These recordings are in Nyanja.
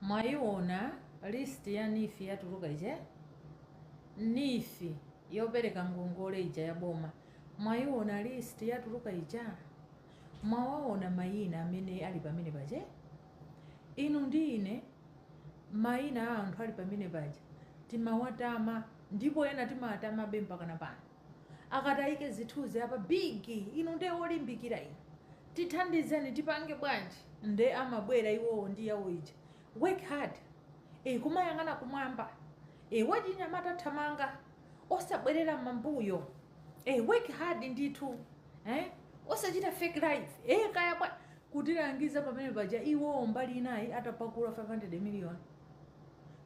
Mwaiona list ya neef yatuluka ija? Neef yopereka ngongole ija ya boma mwaiona list yatuluka ija? Mwawaona maina amene ali pamene paja? Inu ndi ine maina a anthu ali pamene paja timawatama ndipo ena timawatamabe mpakana pano. akataike zithuzi apa big inu nde olimbikira inu tithandizeni tipange bwanji nde amabwera iwowo ndi yawo ija work hard e, kumayang'ana kumwamba e, wachinyamata thamanga osabwerera mambuyo e, work hard ndithu eh? osachita fake life e, kaya bwa kutilangiza pamene paja iwowo mbali inayi atapakula 500 million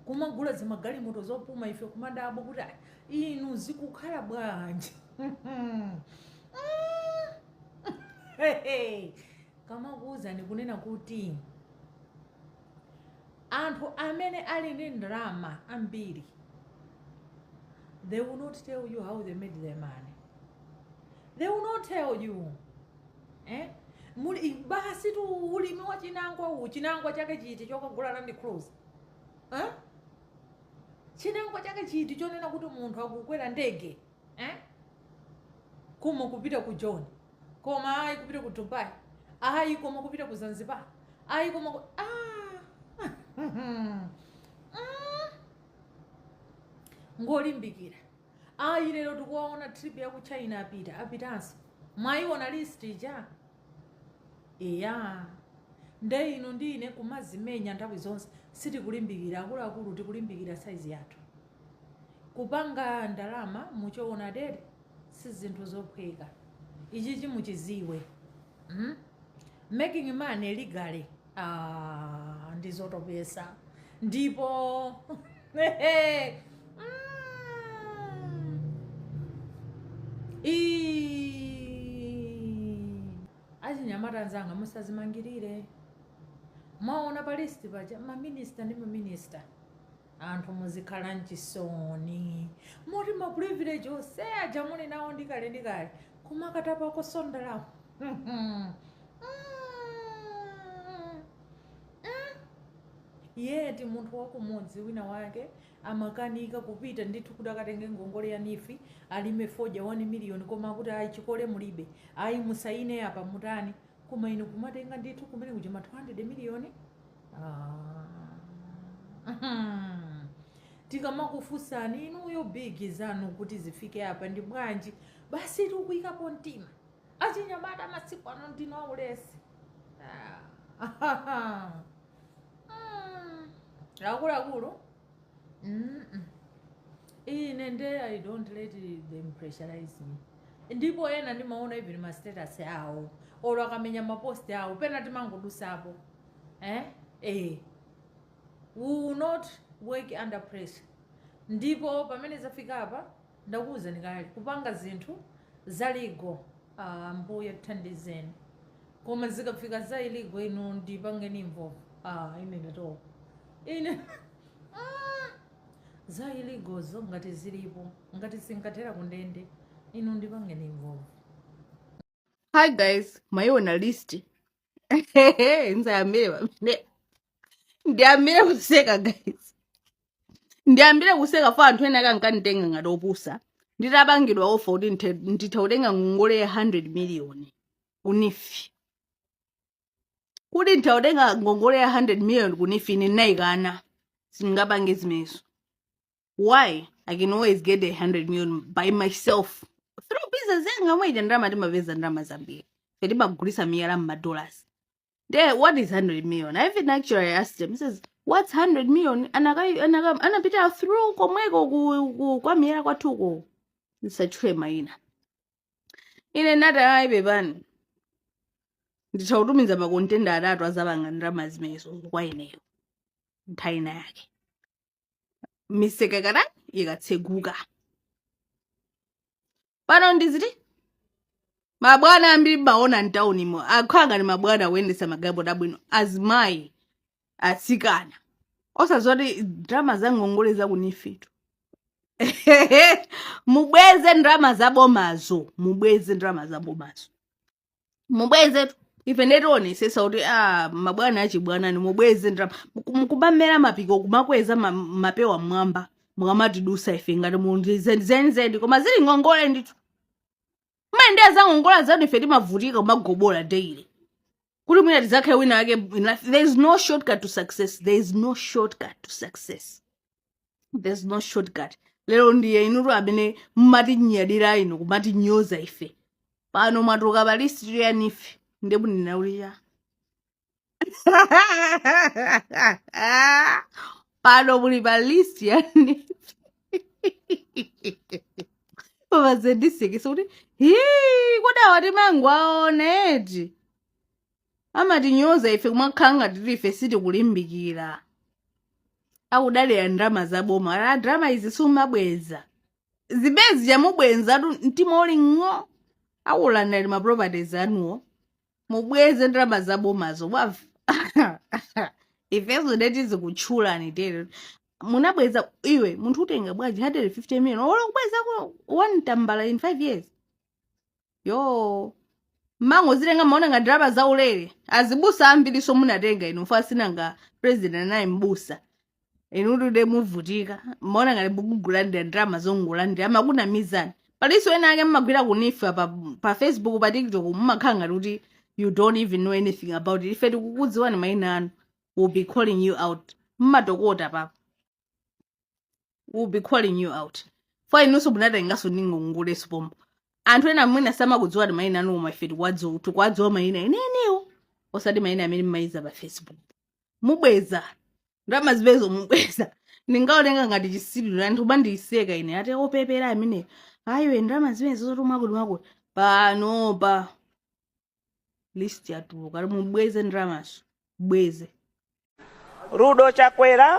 kumagula zimagalimoto zopuma ife kumadabwa kuti "Ah, inu zikukhala bwanji akamakuwuzani kunena kuti anthu amene ali ndi ndalama ambiri they will not tell you how they made their money they will not tell you eh? muli basitu ulimi wa chinangwa uwu chinangwa chake chiti chokagula Land Cruiser eh? Chinangwa chake chiti chonena kuti munthu akukwera ndege eh? kumapita ku Joni koma ayi kupita ku Dubai ayi koma kupita ku Zanzibar ayi koma ku... ah! mm. ngolimbikira ayi lero tikuwaona trip ya ku China apita apitanso mwayiona list ija Eya. Nde inu ndi ine kumazimenya nthawi zonse sitikulimbikira, akuluakulu tikulimbikira size yathu. Kupanga ndalama muchoonadi si zinthu zophweka. Ichichi muchiziwe. Hmm? Making money legally Aaa ndizotopesa ndipo Iiii Mwaona pa list paja ma minister ndi ma minister. Anthu muzikhala nchisoni moti ma privilege ose aja muli nawo ndi kale ndi kale kumakatapakonso ndalama yet munthu wakumudzi wina wake amakanika kupita ndithu kuti akatenge ngongole ya neef alime fodya 1 million koma akuti ayi chikole mulibe ayi musayine apa mutani koma inu kumatenga ndithu kumene kuja ma 200 miliyoni Ah. tikamakufunsani inuyo bigi zanu kuti zifike apa ndi bwanji basi tikuyikapo mtima achinyamata masiku ano ndinu aulesi Ah. Mm. akuluakulu Mm-mm. ine nde i don't let them pressurize me ndipo ena ndimaona even ma status awo olo akamenya ma post awo pena timangodusapo eh eh we will not work under pressure ndipo pamene zafika apa ndakuwuzani kale kupanga zinthu za legal ah, mbuye thandizeni koma zikafika za illegal inu ndipangeni involve ah, ine ndatopa ine za illegalzo ngati zilipo ngati zinkathera kundende inu ndipangeni involve hi guys mwayiona list nzayambire pamene ndiyambire kuseka guys ndiyambire kuseka fo anthu ena akankanditenga ngati opusa nditapangidwa offer kuti nditha kutenga ngongole ya 100 miliyoni ku NEEF kuti nditha kutenga ngongole ya 100 million ku NEEF ine ndinayikana sindingapange zimenezo why i can always get a 100 million by myself through business yanga mwaita ndalama timapeza ndalama zambiri ife timagulisa miyala mmadollars There, what is 100 million? I even actually asked him, he says, what's 100 million? Anaka- anaka- Anapita through komweko ku- ku- kwa miyala kwathuko. Nisatchule maina. ine ndati ayi pepani nditha kutumiza makontena atatu azapanga ndalama zimenezo kwa ineyo nthawi ina yake miseka ikatani ikatseguka pano ndiziti mabwana ambiri mmawaona mtaunimo akhala ngati mabwana akuyendesa magalimoto abwino azimayi atsikana osazoti ndalama za ngongole za ku NEEF tu mubweze ndalama za bomazo mubweze ndalama za bomazo mubweze ife ndetionesesa kuti ah, mabwana achibwanani mubweze ndalama Muku- mukumamera mapiko kumakweza ma- mapewa mmwamba mukamatidusa ife ngati muli nazo zenizeni koma zili ngongole ndithu mumayendesa zangongole zanu ife timavutika kumagobola daily kuti mwina tizakhale wina wake in life there is no shortcut to success there is no shortcut to success there is no shortcut lero ndiye inutu amene mmatinyadira inu kumatinyoza ife pano mwatuluka pa list ya NEEF nde mundinaulira Pano muli pa list ya NEEF. Pazandisekesa kuti hi kodi awa timangowaona eti. Amatinyoza ife kumakhala ngati kuti ife sitikulimbikira. Akudalira ndalama za boma. Ata ndalama izi sumabweza. Size izi chamubwenza tu mtima uli ng'o. Akulandani ma properties anuwo. mubweze ndalama za bomazo bwana ifeyo nde tizikutchulani tero musanabweze iwe munthu utenga bwanji 150 million olo kubweza ko one tambala in 5 years kumangozitenga kumaona ngati ndalama za ulere azibusa ambirinso munatenga inu paja si nanga president naye mbusa inutu nde muvutika mmaona ngati mukulandira ndalama zongolandira amakunamizani palinso ena ake mmagwira ku NEEF pa, pa facebook pa tiktok mumakhala ngati kuti you don't even know anything about it ife tikukudziwani maina anu we'll be calling you out mmatokota apapa we'll be calling you out for inunso munatenganso ngongolezo pompo anthu ena mwina samakudziwani maina anu koma ife tikuwadziwa tikuwadziwa maina amenewo osati maina amene mmayika pa facebook mubweza ndalama zimenezo mubweza ndingaoneka ngati chitsiru anthu mundiseka ine ati opepera ameneyu ayi ndalama zimenezo zotumwa kuti mwakuti panopa list yatuluka kuti mubweze ndalamazo mubweze Rudo Chakwera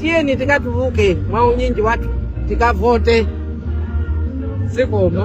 tiyeni tikatuluke mwa unyinji wathu tikavote zikomo